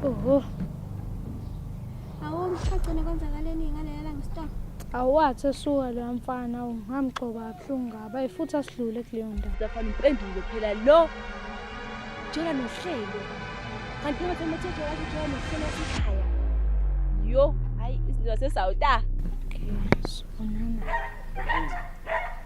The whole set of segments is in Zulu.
Oho. Awu mshaqene kwenzakaleni ngaleya langa stop. Awathi esuka lo mfana ungamgcoba abhlungu ngaba efuthi asidlule kuleyo ndawo. Lafana impendulo phela lo. Jola nohlelo. Kanti ngathi umethethe wathi jola nohlelo ekhaya. Yo, hayi izinto zasesawuta. Okay, sonana.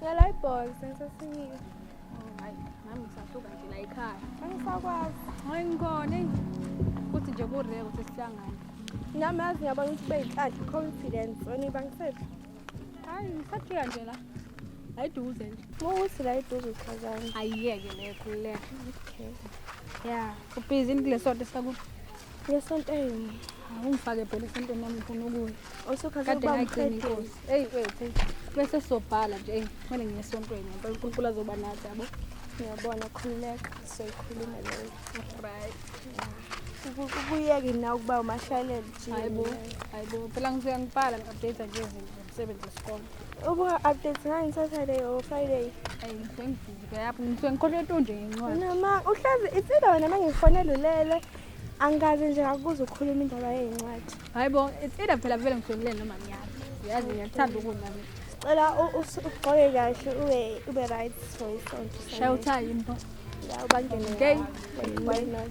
Ngela ibhola sensasinile. Hayi, nami ngisahluka nje la ekhaya. Angisakwazi. Hayi ngikhona eyi. Kuthi nje kureka ukuthi sihlangane. Nami yazi ngiyabona ukuthi ube yinhlanhla i-confidence wena ibangisethu. Hayi, ngisafika nje la. La eduze nje. Mukuthi la eduze uchazani. Ayiyeke le khululeka. Okay. Ya, ubhizi into lesonto sakuthi Yesontweni. Awungifake phela esontweni nami ngifuna ukuya. Osokhaze Kade ukuba ngayigcina umqedeli. inkosi. Eyi wethu. Bese sobhala nje. Eyi kumele ngiye esontweni. Ngempela uNkulunkulu azoba nathi yabo. Ngiyabona khululeka soyikhuluma leyo. Right. Kubuyeke na ukuba umashalele nje. Hayibo. Hayibo. Phela ngisuke ngibhala ngi-update nje izinto. Sebenza isikole. Ubuka updates ngani Saturday or Friday? Ayi ngifengifike yapho ngisuke ngikhohlwe tonje ngencwadi. Noma uhlazi itsilo wena mangifonela ulele. Angikaze nje ngakuza ukukhuluma indaba yezincwadi. Hayi bo, it's either phela vele ngihlelele noma ngiyazi. Uyazi ngiyathanda ukudla mina. Cela ugqoke kahle ube ube right for isonto. Shaya uthayi impho. Yeah, ubangene. Okay. Why not?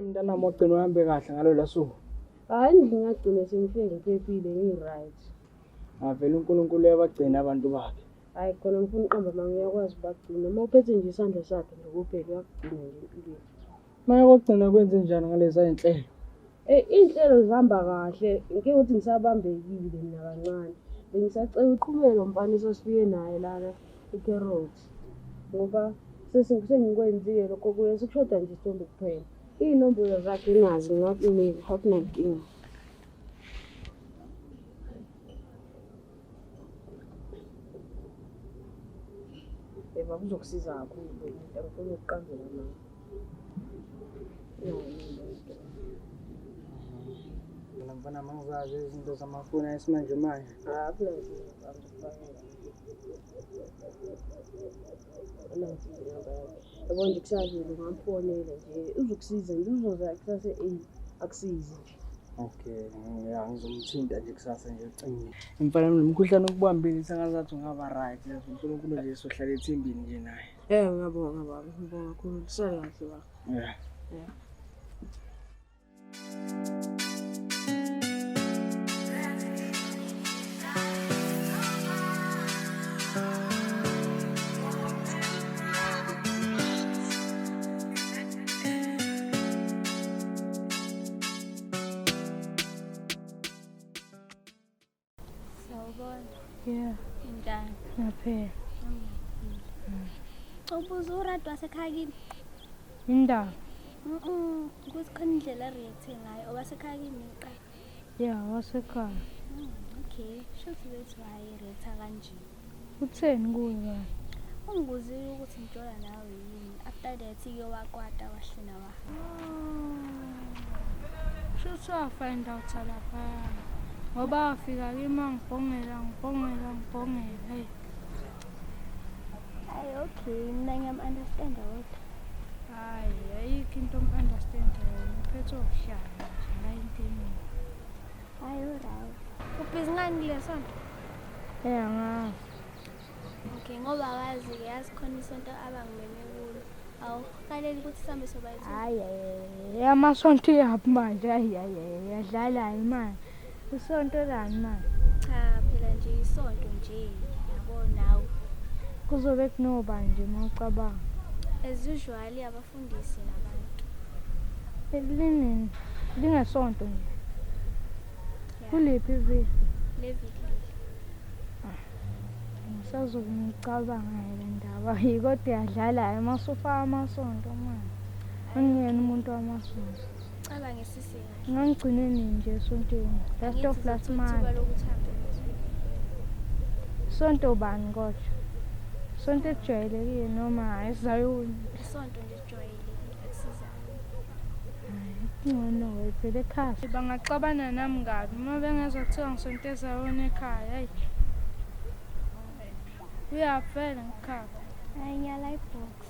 Mntanami ogcina uhambe kahle ngalolu suku. Hayi ngingagcina sengifike ngiphephile ngi-right. Avele uNkulunkulu uyabagcina abantu bakhe. Hayi khona ngifuna uqamba mama uyakwazi ubagcina. Uma uphethe nje isandla sakhe nje kuphela uyakugcina nje impilo. Maya kokugcina kwenze njani ngalezi ayinhlelo? Eh inhlelo zihamba kahle. Ngike ukuthi ngisabambekile mina kancane. Bengisacela uqhubeke lo mfana esasifike naye lana eCarrots. Ngoba sesengikwenzile lokho kuye sekushoda nje isithombe kuphela. Iy'nombolo zakhe ngazi ngakunika akunankinga. Eva kuzokusiza kakhulu umuntu angifuni ukuqambela nawe. Mina mfana mangizazi izinto zamafoni esimanje manje. Yabo nje kusazile ngamfonela nje uzokusiza nje uzoza kusase eyi akusizi nje. Okay, yeah, ngizomthinta nje kusasa nje ucingile. Mfana nomkhuhlane okubambile sengazathi ungaba right. Unkulunkulu nje sohlala ethimbini nje naye. Eh, ngiyabonga baba. Ngibonga kakhulu. Kusele kahle baba. Yeah. Yeah. Yeah. Njani? Ngaphela. Ubuza uRadwa wasekhaya kini? Indaba. Mhm. Ukuthi khona indlela react ngayo owasekhaya kini iqala. ya wasekhaya hmm, okay shuthi bethi wayeretha kanje utheni kuye kanye ungibuzile ukuthi ngitshela nawe yini after that ke wakwata wahlina wa shuthi wafind out laphayana ngoba afika kimi angibhongela ngibhongela ngibhongela eyi Ay okay, mina ngiyam understand kodwa. Hayi, ayikho into om understand yona. Uphethe okuhlala nje la intini. Ay uRawu. Ubhizi ngani lesonto? Eh angazi. Okay, ngoba wazi ke yazi khona isonto abangimeme kulo. Awu, kaleli ukuthi sambe sobayithu. Hayi, amasonto iyaphi manje? Hayi, hayi, yadlala imali. Isonto lani ma? Cha phela nje isonto nje yabo nawe. Kuzobe kunoba nje uma ucabanga. As usual abafundisi nabantu. Elinini lingesonto nje. Kuliphi iviki? Leviki. Ngisazobe ngicabanga le ndaba. Kodwa yadlala yamasofa amasonto manje. Angiyena umuntu wamasonto. Cabangisa ngangigcine nini nje esontweni last of last month sonto bani kodwa sonto ejwayelekile noma ezayoni isonto nje ejwayelekile akusizani ingcono wayivele ekhaya bangaxabana nami kabi uma bengezwa kuthiwa ngisonto ezayoni ekhaya hayi uyavela ngikhapha ayinyala ibhox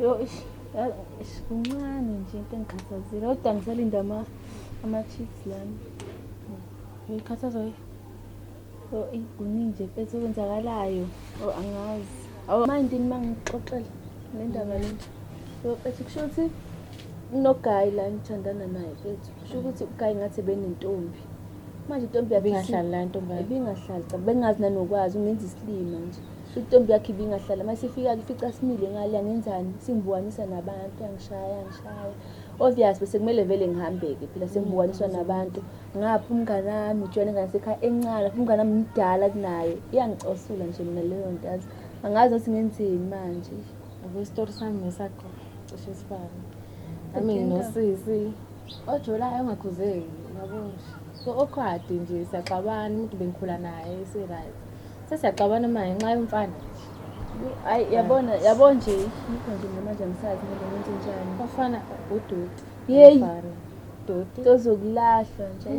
Yo ish ish kuncane nje into engikhathazile kodwa ngisalinda ama ama-chips lami. Ngikhathazwa yi- yo eyi kuningi nje mfethu okwenzakalayo. Oh angazi. Awu manje yini uma ngikuxoxela le ndaba le nje. Yo mfethu kusho ukuthi kunogayi la engithandana naye mfethu. Kusho ukuthi ugayi ngathi benentombi. Manje intombi yakhe Ibingahlali la intombi yakhe. Ibingahlali cha bengazi nanokwazi ungenza isilima nje. Sho intombi yakhe ibingahlala uma sifika-ke ifica simile ngale angenzani singibukanisa nabantu angishaya angishaya obvious bese kumele vele ngihambe-ke phela sengibukaniswa nabantu ngapha umngane wami ujwayele ngane sekhaya encane futhi umngane wami mdala kunaye iyangicosula nje mina leyo nto yazi angazi ukuthi ngenzeni manje yabo isitori sami nesakho cishe sifane nami nginosisi ojolayo ongakhuzeki yabo nje so okhwadi nje siyaxabana umuntu bengikhula naye si-right sesiyaxabana uma ngenxa yomfana ayi yabona yabo nje yikho nje mina manje angisazi kumele ngenze njani bafana udoti yeyi doti tozokulahlwa nje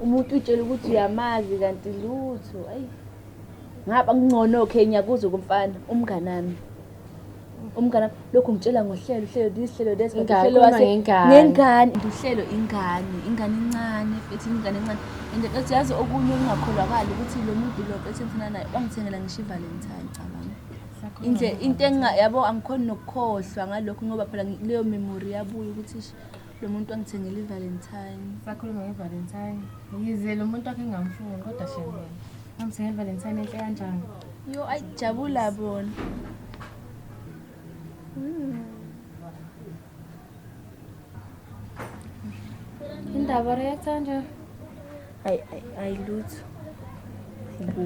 umuntu utshela ukuthi uyamazi kanti lutho ayi ngaba kuncono khe ngiyakuza kumfana umnganami umngane lokhu ngitshela ngohlelo uhlelo this hlelo this uhlelo wase ngengane uhlelo ingane ingane incane ethi ingane incane and ethi yazi okunye okungakholakala ukuthi lo muntu lo ethi ngifuna naye wangithengela ngisho ivalentine cabanga indle into enga yabo angikhona nokukhohlwa ngalokho ngoba phela leyo memory yabuya ukuthi lo muntu wangithengela ivalentine sakhuluma ngevalentine yize lo muntu akhe ngamfuni kodwa shembe Angithengele Valentine enhle kanjani? Yo ayijabula bona. Hmm. Indaba react kanje. Ay ay ay lutho. Ibu.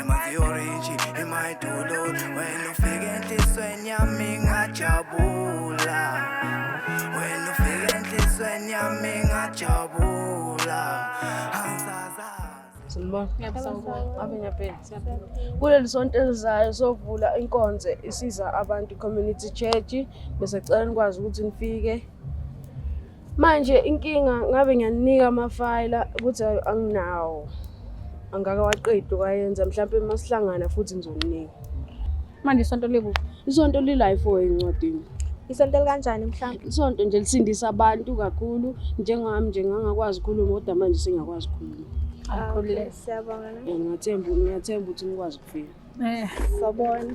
emazioriji emayidulo wena ufike enhlisweni yami ngajabula wena ufike enhlisweni yami ngajabula kuleli sonto elizayo sovula inkonzo isiza abantu community church bese cela nikwazi ukuthi nifike manje inkinga ngabe ngiyanika amafayila ukuthi anginawo angaka waqedi wayenza mhlawumbe uma sihlangana futhi ngizoninika manje isonto likuphi isonto li-life oy encwadini isonto likanjani mhlawumbe isonto nje lisindisa abantu kakhulu njengami nje ngangakwazi ukukhuluma kodwa manje sengiyakwazi ukukhuluma ah, siyabonga ngiyathemba ukuthi nikwazi ukufika eh, sawubona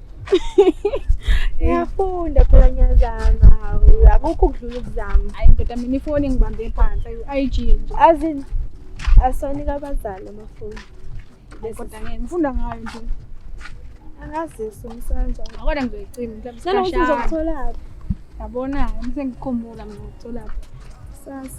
Ngiyafunda phela ngiyazama. Hawu, akukho ukudlula ukuzama. Hayi ndoda mina ifoni ngibambe phansi ayi-IG nje. Azini asoni kabazali amafoni. Kodwa ngeke ngifunda ngayo nje. Angazisi umsanja. Akona ngizoyicima mhlawumbe. Sena ukuthi uzokutholaphi? Yabona, ngisengikhumbula mina ngokutholaphi. Sasa.